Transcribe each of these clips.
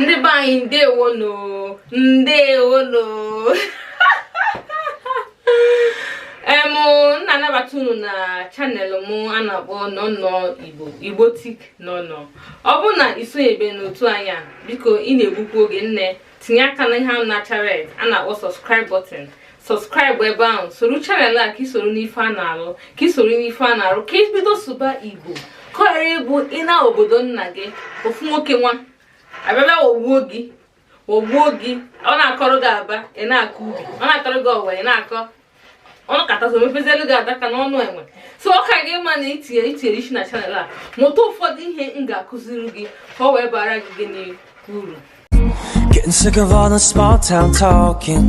ndị be anyị ndewonu ndewonu em na-anabata unu na channel m a na-akpọ nọnọ igbotic nọnọ ọ bụrụ na i sonyebe n'otu anyị a biko ị na-egbukwu oge nne tinye aka na ihe ahụ na-acha red a na-akpọ subscribe button subscribe ebe ahụ soro channel a ka isoro n'ife a na-arụ ka isoro n'ife a na-arụ ka i bido sụba igbo ka ọ ghara ịbụ ị naa obodo nna gị ofu nwoke nwa abịabịa wogbuo gị wogbuo gị ọ na-akọrọ gị aba ị na-akọ ubi ọ na-akọrọ gị ọwa ị na-akọ ọnụ katazo mepezielu gị adaka n'ọnụ enwe so ọ ka gị mma na i tinyere isi na channel a mụta ụfọdụ ihe m ga-akụziri gị ka ọ wee bara gị gịnị uru Getting sick of all the small town talking.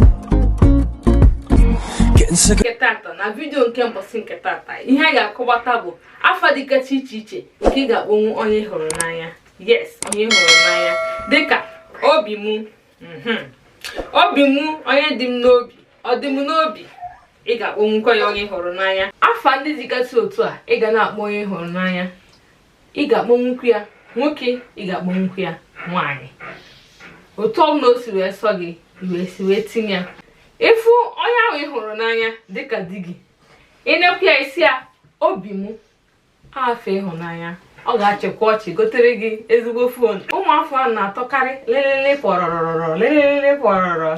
Getting sick of nke tata na vidiyo nke mbọsị nke tata ihe a ga-akọwata bụ afa dịgacha iche iche nke ị ga-akpọnwu onye ị hụrụ n'anya yes onye ị hụrụ n'anya dịka obi mụ mhm. obi mụ onye dị m n'obi ọ dị m n'obi ị ga-akpọnwukwa ya onye ị hụrụ n'anya afa ndị dịgasị otu a ị ga na-akpọ onye ị hụrụ n'anya ị ga-akpọnwukwu ya nwoke ị ga-akpọnwukwu ya nwaanyị otu ọbụla o si wee sọ gị wee si wee tinye ya ị fụ onye ahụ ị hụrụ n'anya dịka di gị ị nekwu ya ị sị ya obi mụ afa ịhụnanya ọ ga-achịkwa ọchị gotere gị ezigbo fon ụmụ afa a na-atọkarị lelele pọrọrọrọ lelele pọrọrọ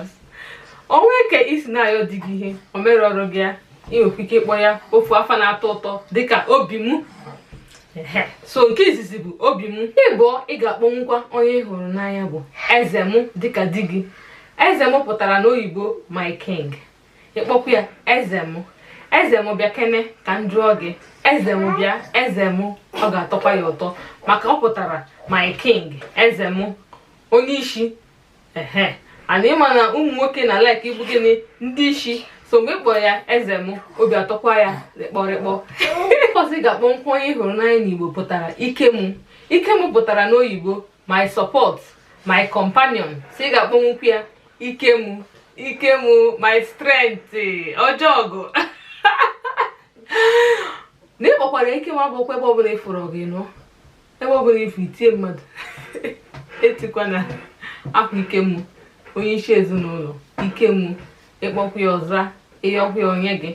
o nwe ka i si na-ayọ di gị ihe o mere ọrụ gị ya i nwekwa ike ịkpọ ya ofu afa na-atọ ụtọ dịka obi m so nke izizi bụ obi m ịbụọ ị ga-akpọnwukwa onye ị hụrụ n'anya bụ eze m dịka di gị eze m pụtara n'oyibo my king ị kpọkwu ya eze m eze m bịa kene ka m jụọ gị eze m bịa eze m ọ ga-atọkwa ya ụtọ maka ọ pụtara my king eze m onye isi ehen and ị ma na ụmụ nwoke na-like ịbụ gịnị ndị isi so mgbe ị kpọrọ ya eze m obi atọkwa ya rịkpọrịkpọ ọzọ ị ga-akpọnwukwu onye ị hụrụ n'anya n'igbo pụtara ike m ike m pụtara n'oyibo my support my companion so ị ga-akpọnwukwu ya ike mụ ike mụ my strength ọjọgụ na ị kpọkwara ike m abụkwa ebe ọbụla ị fụrụ gị nọ ebe ọbụla ifu itie mmadụ etikwa na ahụ ike mụ onye isi ezinụlọ ike mụ ị kpọkwa ya ọ za ị yọkwa ya o nye gị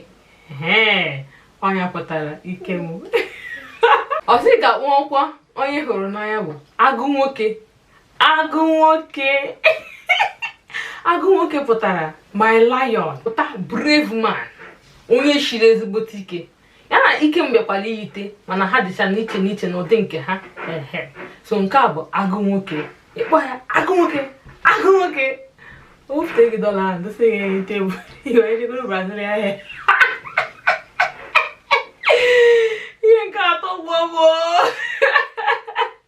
ọ ya pụtara ike m ọzọ ị ga-akpọkwa onye ị hụrụ n'anya bụ agụ nwoke agụ nwoke agụ nwoke pụtara my lion pụta brave man onye shiri ezigbote ike ya na ike m bịakwara iyite mana ha dịcha n'iche n'iche n'ụdị nke ha so nke a bụ agụ nwoke ịkpọ ya agụ nwoke agụ nwoke o bute gị dọla ahụ dọsa gị n'elu tebụl i wee jegoro brazil ahịa ihe nke atọ gwọ bụ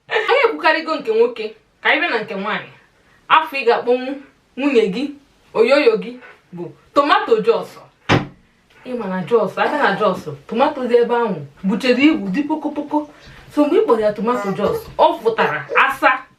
anyị ekwukarịgo nke nwoke ka anyị bịa na nke nwaanyị afa ị ga-akpọnwu nwunye gị oyoyo gị bụ tomato jos ị ma na jos ị ga na jos tomato dị ebe ahụ buchere ibu dị pokopoko so mgbe ị kpọrọ ya tomato jos ọ pụtara asa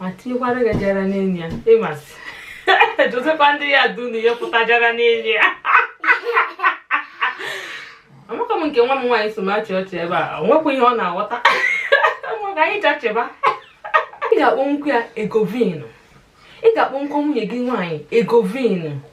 ma tiekwara gị jara n'elu ya ịmasị dotekwa ndị ya dunu ya pụta jara n'elu ya amaka m nke nwa m nwaanyị so m achị ọchị ebe a ọ nwekwa ihe ọ na-aghọta maka anyị jachịba ị ga-akpọnwukwu ya egovin ị ga-akpọnwukwa nwunye gị nwaanyị egovin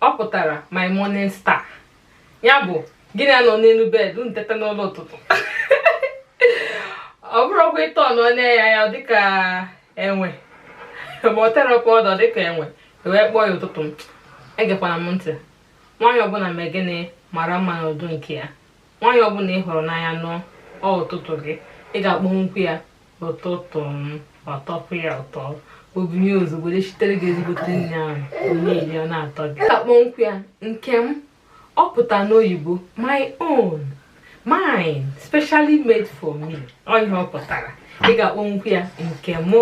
ọ pụtara my morning star ya bụ gị na ya nọ n'elu bed unu teta n'ụla ụtụtụ ọ bụrụ ọgwụ ịtọ nọ na ya ya dịka enwe ma ọ terọ powder dịka enwe wee kpọọ ya ụtụtụ m egekwana m ntị nwaanyị ọbụla mee gịnị mara mma n'ụdị nke ya nwaanyị ọbụla ị hụrụ n'anya nụọ ọ ụtụtụ gị ị ga-akpọnwukwu ya ụtụtụ m ọtọkwu ya ụtọ o binie ozugbo jee sitere gị ezigbote nri ahụ o nye i rie ọ na-atọ gị ị ga-akpọnwukwu ya nke m ọ pụta n'oyibo my own mine specially made for me ọ ihe ọ pụtara ị ga-akpọnwukwu ya nke mụ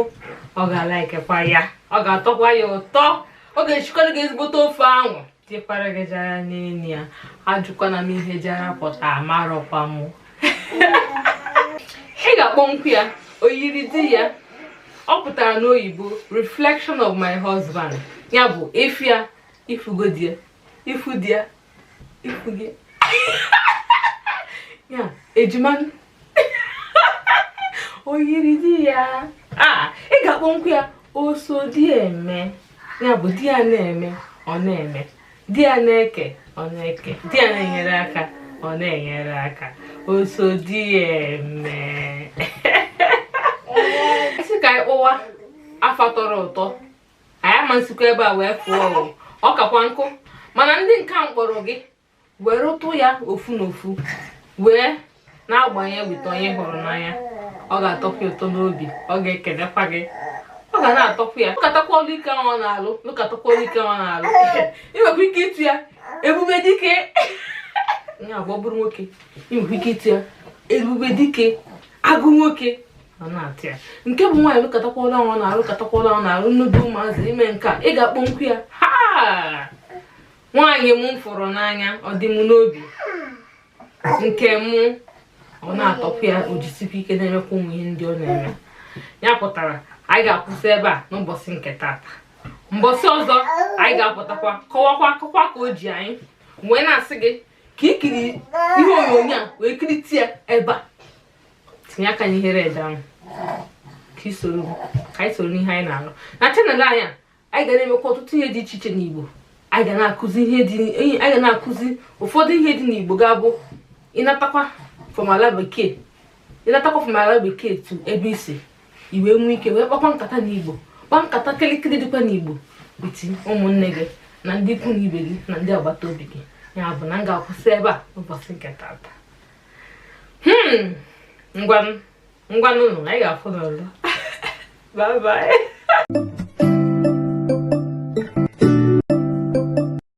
ọ ga-alaikekwa ya ọ ga-atọkwa ya ụtọ ọ ga-esikwara gị ezigbote ofe ahụ tiekwara gị jara n'elu ya ajụkwana m ihe jara pụta amarọkwa m ị ga-akpọnwukwu ya oyiri di ya ọ pụtara n'oyibo reflection of my husband ya bụ ị fụ ya ị fụgo di ya ị fụ di ya ị fụgo ya ejima oyiri di ya ị ga-akpọnwukwu ya oso di eme ya bụ di ya na-eme ọ na-eme di ya na-eke ọ na-eke di ya na-enyere aka ọ na-enyere aka oso di eme ị sị ka anyị kpọwa afa tọrọ ụtọ anyị ama esikwa ebe a wee fụọ ọ kakwanụ mana ndị nke a m kpọrọ gị were ụtụ ya ofu na ofu wee na-agbanye weta onye hụrụ n'anya ọ ga-atọkwu ụtọ n'obi ọ ga-ekelekwa gị ọ ga na-atọkwu ya lụkatakwa ọlụ ike ahụ ọ na-alụ lụkatakwa ọlụ ike ahụ ọ na-alụ ị nwekwa ike ịtụ ya ebube dike ya agwa bụrụ nwoke ị nwekwa ike ịtụ ya ebube dike agụ nwoke ọ na-atọ ya nke bụ nwaanyị lụkatakwa ọlụ ahụ ọ na-alụ lụkatakwa ọlụ ahụ ọ na-alụ nnudu ụmụazị ime nke a ị ga-akpọkwu ya aha nwaanyị m fụrụ n'anya ọ dị m n'obi nke mụ ọ na-atọkwu ya o jisikwa ike na-emekwa ụmụ ihe ndị ọ na-eme ya pụtara anyị ga-akwụsị ebe a n'ụbọchị nke tata mbọsị ọzọ anyị ga-apụtakwa kọwakwa akụkọ ka o ji anyị wee na-asị gị ka i kiri ihe onyonyo a wee kirite ya ebe a tinye aka n'ihe red ahụ ka i soro ka anyị soro n'ihe anyị na-alụ na channel anyị a anyị ga na-emekwa ọtụtụ ihe dị iche iche n'Igbo anyị ga na-akụzi ihe dị anyị ga na-akụzi ụfọdụ ihe dị n'Igbo ga-abụ ị natakwa from ala bekee ị natakwa from ala bekee to ebe i si i wee nwee ike wee kpakwa nkata n'Igbo kpaa nkata kịrịkịrị dịkwa n'Igbo with ụmụnne gị na ndị ikwu na ibe gị na ndị agbata obi gị ya bụ na m ga-akwụsị ebe a ụbọchị nke tata hmm ngwanụ ngwanụ anyị ga-afụnụ o bye bye